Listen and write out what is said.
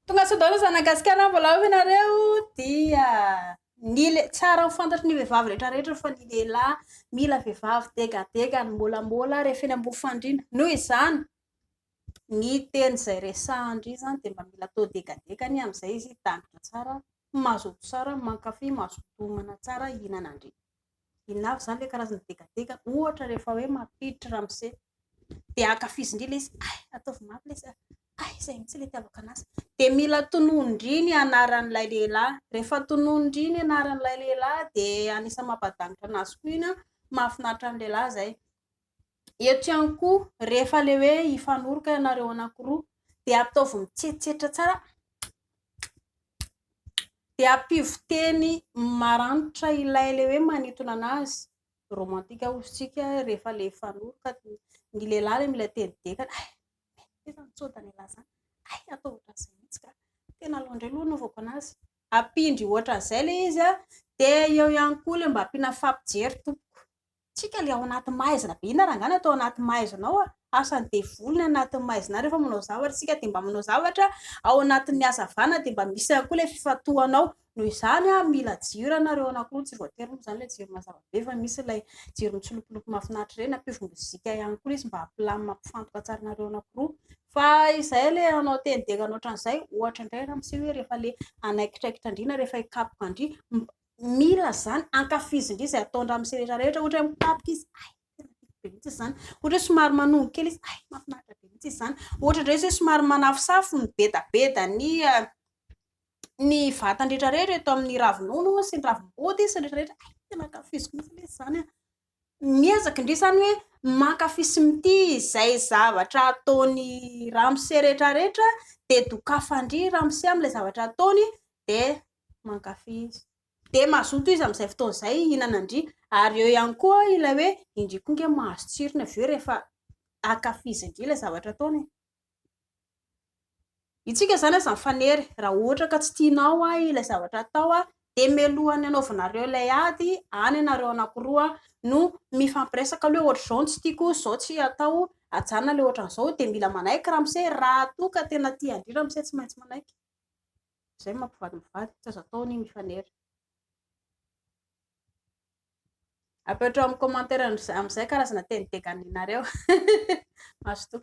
Tonga soa daholo zanak'i Gasikara mbola ao ve nareo dia ny le- tsara ho fantatry ny vehivavy rehetra rehetra fa ny lehilahy mila vehivavy tegatega ny môlamôla rehefa eny ambony fandriana noho izany ny teny izay resahan-dry zany dia mba mila atao degadega anie amin'izay izy hitambatra tsara mazoto tsara mankafy mazoto homana tsara hihinana an-dry Inona avy izany ilay karazana degadega? Ohatra rehefa hoe mampiditra ramose dia ankafizin-dry ilay izy, hay ataovy mafy ilay izy a, hay izay mihitsy ilay itiavako an'azy. Dia mila tononondry ny anaran'ilay lehilahy, rehefa tononondry ny anaran'ilay lehilahy dia anisan'ny mampahadangitra an'azy koa iny an, mahafinaritra ny lehilahy izay. eto ihany koa rehefa ilay hoe hifanoroka ianareo anankiroa dia ataovy mitsetsetra tsara dia ampivo teny maranitra ilay ilay hoe manintona an'azy romantika hozy tsika rehefa ilay hifanoroka ny lehilahy ilay mila teny dekany ay tena mitsoa-dada ilay lehilahy izany ay ataovy ohatran'izay mihitsy ka tena aleo indray aloha hanaovako an'azy ampindry ohatran'izay ilay izy dia eo ihany koa ilay mba ampiana fampy-jery tompoko Tsika le ao anaty maizina be na rangana tao anaty maizina ao asany devoly ny anatin'ny maizina rehefa manao zavatra tsika de mba manao zavatra ao anatin'ny hazavana de mba misy ihany koa le fifantohana ao noho izany a mila jiro ianareo anankiroa tsy voatery moa izany le jiro mazava be fa misy ilay jiro mitsilopilopy mahafinaritra ireny ampivo mozika ihany koa le izy mba hampilamina hampifantoka tsara anareo anankiroa fa izay le anao teny degana ohatran'izay ohatra indray raha miseho hoe rehefa le anaikitraikitra andriana rehefa hikapoka andriana mila zany ankafizindry izay ataony ramose rehetra rehetra ohatra hoe mikapoka izy ay tena tiako be mihitsy izany ohatra hoe somary manongo kely izy ay mahafinaritra be mihitsy izany ohatra indray izy hoe somary manafosafo mibedabeda ny ah, ny vatany rehetra rehetra eto amin'ny ravinono sy ny ravim-body sy ny rehetra rehetra ay tena ankafiziko mihitsy le izany ah. miezaka indry izany hoe mankafy sy mitia izay zavatra ataony ramose rehetra rehetra dia dokafandry ramose amin'ilay zavatra ataony dia mankafy izy. Dia mazoto izy amin'izay fotoana izay hihinanandry. Ary eo ihany koa ilay hoe indry koa ange mahazo tsirony avy eo rehefa ankafiziny indry ilay zavatra ataony e. Isika izany aza mifanery, raha ohatra ka tsy tianao ahy ilay zavatra atao aho, dia mialohan'ny hanaovanareo ilay ady, any ianareo anankiroa no mifampiresaka aloha hoe ohatr'izao no tsy tiako, izao tsy atao, ajanona ilay ohatran'izao, dia mila manaiky ramose, raha toa ka tena tia an-dry ramose tsy maintsy manaiky. Izay ny maha mpivady mivady, tsy azo atao ny mifanera. Apetrao amin'ny commentaire amin'izay karazana teny degan'ny nareo. Mazotoa.